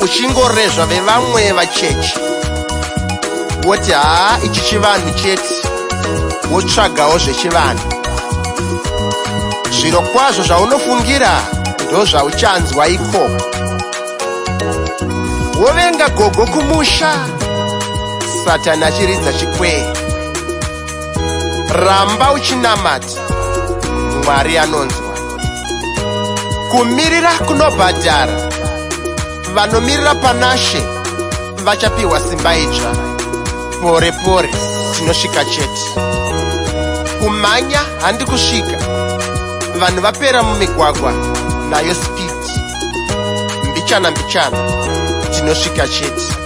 uchingorezva vevamwe vachechi woti haa ichi chivanhu chete wotsvagawo zvechivanhu zviro kwazvo zvaunofungira ndozvauchanzwa ikoko wovenga gogo kumusha satani achiridza chikwee ramba uchinamata mwari anonzwa kumirira kunobhadhara vanomirira panashe vachapiwa simba idzva pore pore tinosvika chete kumhanya handi kusvika vanhu vapera mumigwagwa nayo speed mbichana mbichana tinosvika chete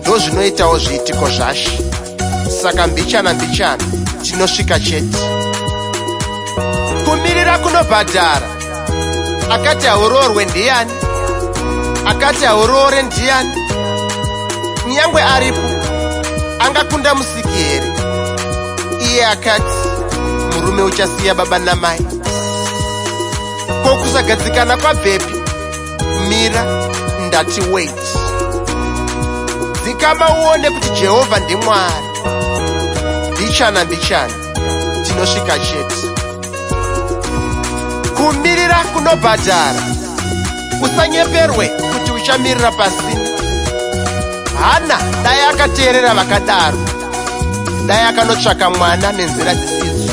ndozvinoitawo zviitiko zvaShe saka mbichana mbichana tinosvika chete kumirira kunobhadhara akati hauroorwe ndiyani akati hauroore ndiyani kunyangwe aripo angakunda musiki here iye akati murume uchasiya baba namai ko kusagadzikana kwabvepi mira ndati wait dzikama uone kuti jehovha ndimwari mbichana mbichana tinosvika chete kumirira kunobhadhara usanyeperwe kuti uchamirira pasina hana dai akateerera vakadaro dai akanotsvaka mwana nenzira dzisidzo